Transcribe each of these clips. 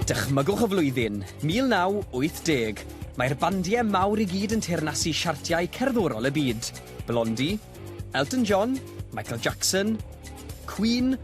Dychmygwch y flwyddyn, 1980. Mae'r bandiau mawr i gyd yn teyrnasu siartiau cerddorol y byd. Blondie, Elton John, Michael Jackson, Queen,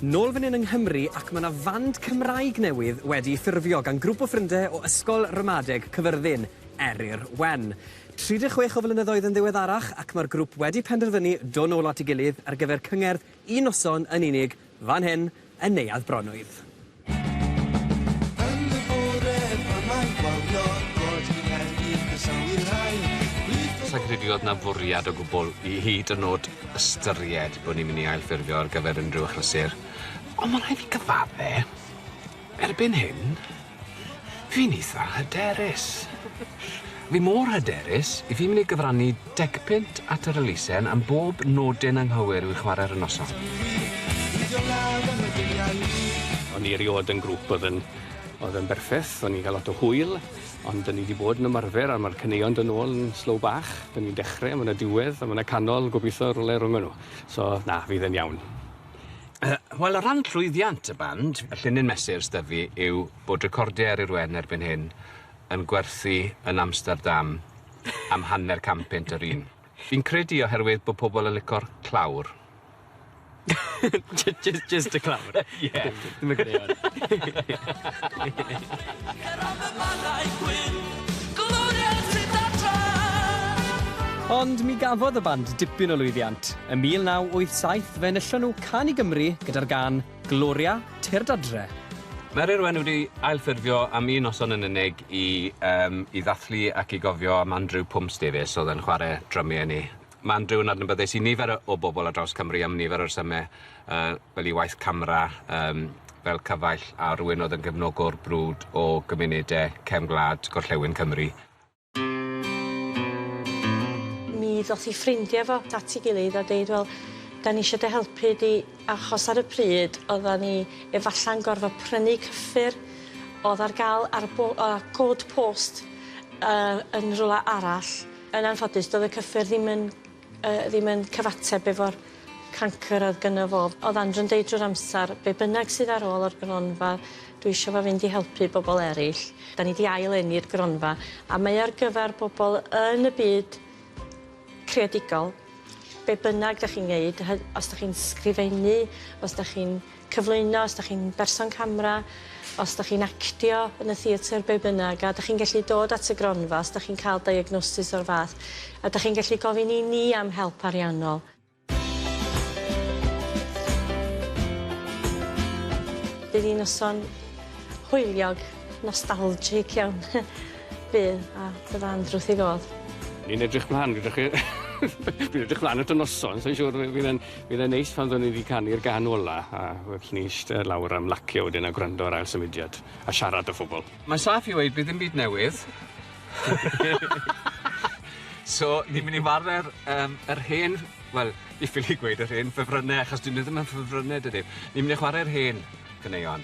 Nôl fan hyn yng Nghymru ac mae 'na fand Cymraeg newydd wedi ffurfio gan grwp o ffrindie o Ysgol Ramadeg Cyfyrddin, Eryr Wen. 36 o flynyddoedd yn ddiweddarach ac mae'r grwp wedi penderfynu do' nôl at ei gilydd ar gyfer cyngerdd un noson yn unig Fan hyn yn Neuadd Bronwydd. Yn y bore pan mae'n gwawio'r gôd i Nghaerdydd croesawu'r rhain Plith o Sa i'n credu oedd 'na fwriad o gwbl i hyd yn o'd ystyried bod ni'n mynd i ailffurfio ar gyfer unrhyw achlysur, ond ma' rhaid fi gyfadde', erbyn hyn, Fi'n eitha hyderus. Fi mor hyderus, 'y fi'n mynd i gyfrannu deg punt at yr elusen am bob nodyn anghywir i'w chwarae ar y noson. O'n i erioed yn grŵp oedd yn oedd yn berffeth, o'n i'n cael lot o hwyl, ond o'n i wedi bod yn ymarfer a mae'r caneuon dod nôl yn slow bach, o'n i'n dechrau, mae 'na diwedd a mae 'na canol, gobeithio rywle rhwng nhw. So, na, fydd e'n iawn. Yy wel o ran llwyddiant y band, y llinyn mesur s'da fi yw bod recordiau ar yr wen erbyn hyn yn gwerthu yn Amsterdam am hanner can punt yr un. Fi'n credu oherwydd bod pobl yn licor clawr. J- j- just y clawr. Ie. Ddim yn gwneud hwn. Ond mi gafodd y band dipyn o lwyddiant. Ym 1987 fe enillon nhw Can i Gymru gyda'r gân 'Gloria, Tyrd Adre'. Mae'r Irwen wedi ailffurfio am un noson yn unig i yym i ddathlu ac i gofio am Andrew Pumps Davies oedd yn chware drymu â ni. Mae Andrew yn adnabyddus i nifer o o bobl ar draws Cymru am nifer o resyme yy fel ei waith camera yym fel cyfaill a rhywun oedd yn gefnogwr brwd o gymunede cefn gwlad gorllewin Cymru. Mi ddoth 'i ffrindia' fo at 'i gilydd a deud wel 'dan ni isio dy helpu di achos ar y pryd oddan ni efalla'n gorfod prynu cyffur o'dd ar ga'l ar y bo- yy cod post yy yn rwla arall yn anffodus do'dd y cyffur ddim yn yy ddim yn cyfateb efo'r cancr oedd gynno fo. O'dd Andrew'n deud drwy'r amsar be' bynnag sydd ar ôl o'r gronfa dwi isio fo fynd i helpu bobol eryll. 'Dan ni 'di ail eni'r gronfa a mae ar gyfar bobol yn y byd creadigol be' bynnag 'dach chi'n neud hy- os 'dach chi'n sgrifennu os 'dach chi'n cyflwyno, os dach chi'n berson camera, os dach chi'n actio yn y theatr, be bynnag, a dach chi'n gallu dod at y gronfa os dach chi'n cael diagnosis o'r fath, a dach chi'n gallu gofyn i ni am help ariannol. Bydd hi'n noson hwyliog, nostalgic iawn bydd, a bydda Andrew wrth ei fodd. Ni'n edrych mlan gyda chi. Dwi'n edrych mlan at y noson, sai'n siŵr fi'n yn Byddai'n neis pan fyddwn ni 'di canu'r gân ola a fyddwn ni'n eistedd lawr am lacio wedyn a gwrando ar Ail Symudiad a siarad â phobl. Mae'n saff i weud bydd dim byd newydd. So, ni'n mynd i warae'r um, yr hen... Wel, diffyg i gweud yr hen ffefrynnau, achos dyn nhw ddim yn ffefrynnau, dydyn. Ni'n mynd i chwarae'r hen ganeuon.